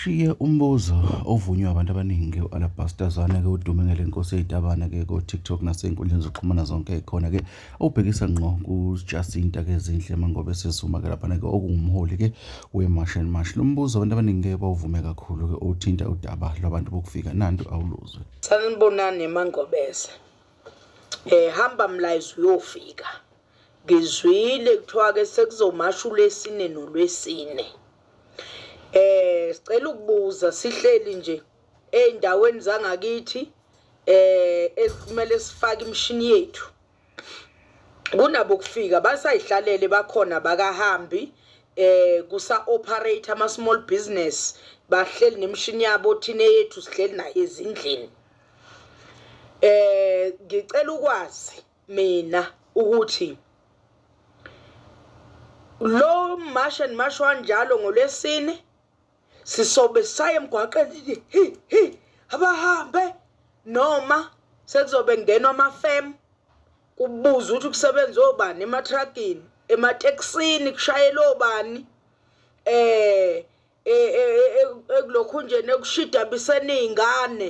Shiye umbuzo ovunywa abantu abaningi u-Alabaster Zwane-ke udume ngale nkosi eyitabane-ke ko-TikTok nasey'nkundleni zokuxhumana zonke ekhona-ke obhekisa ngqo kuJacinta-ke Zinhle Mangobe Sizuma-ke laphana-ke okuwumholi-ke we-March and March. Lo mbuzo abantu abaningi-ke bawuvume kakhulu-ke uthinta udaba lwabantu bokufika nantu awuluzwe. Sanibonani Mangobese. Eh hamba mlayizi uyofika. Ngizwile kuthiwa ke sekuzomasha ulwesine nolwesine. Eh sicela ukubuza sihleli nje ezindaweni zangakithi eh ekumele sifake imshini yethu. Kunabo kufika basayihlalele bakhona bakahambi eh kusa operate ama small business bahleli nemshini yabo thina yethu sihleli nayo ezindlini. Eh ngicela ukwazi mina ukuthi lo mash and mash wanjalo ngolwesine sisobe saye emgwaqeni hi hi abahambe noma sekuzobe ngenwa amafem kubuza ukuthi kusebenza obani ematragini emateksini kushayela obani eh, eh, eh, eh ekulokhunjeni ekushidabiseni izingane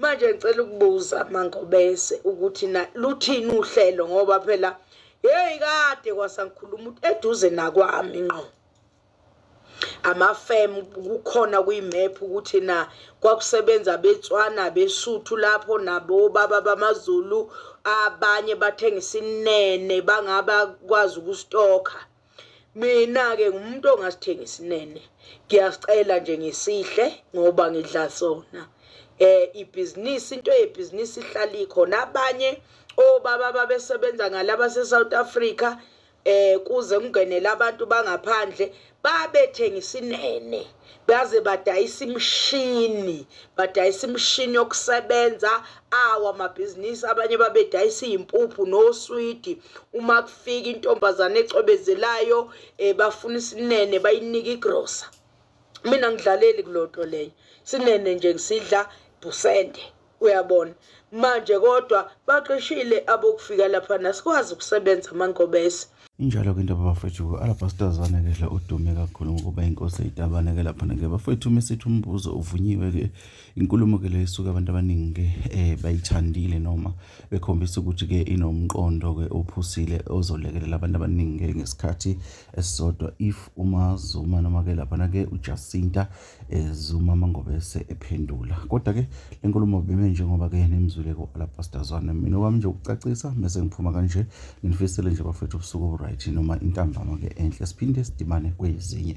Manje ngicela ukubuza mangobese ukuthi na luthini uhlelo ngoba phela hey kade kwasangikhuluma ukuthi eduze nakwami ngqo amafem kukhona kuyimap ukuthi na kwakusebenza betswana besuthu lapho nabo baba bamazulu abanye bathengisa inene bangaba kwazi ukustokha mina ke ngumuntu ongasithengi sinene ngiyasicela nje ngisihle ngoba ngidla sona eh ibhizinisi into yebhizinisi ihlala ikhona abanye obaba babesebenza ngalaba seSouth Africa eh kuze kungenele abantu bangaphandle babethenga isinene baze badayisa imishini badayisa imishini yokusebenza awo amabhizinisi abanye babedayisa iyimpuphu noswidi uma kufika intombazane ecwebezelayo um eh, bafuna isinene bayinike igrosa mina ngidlaleli kulonto leyo sinene nje ngisidla busende uyabona manje kodwa baqeshile abokufika lapha nasikwazi ukusebenza amankobese injalo-ke into babafethu alabhasitazana ke dla udume kakhulu ngokuba inkosi eyitabane-ke laphana-ke bafethu uma sithi umbuzo uvunyiwe-ke inkulumo-ke le isuke abantu abaningi-ke um bayithandile noma bekhombisa ukuthi-ke inomqondo-ke ophusile ozolekelela abantu abaningi-ke ngesikhathi esisodwa if umazuma noma-ke laphana-ke ujasinta ezuma amangobese ephendula kodwa-ke le nkulumo bime njengoba-ke nimzwile ku-alabastazwane mina kwami nje ukucacisa mese ngiphuma kanje nginifisele nje bafethu ubusuku oburyt noma intambama-ke enhle siphinde sidimane kwezinye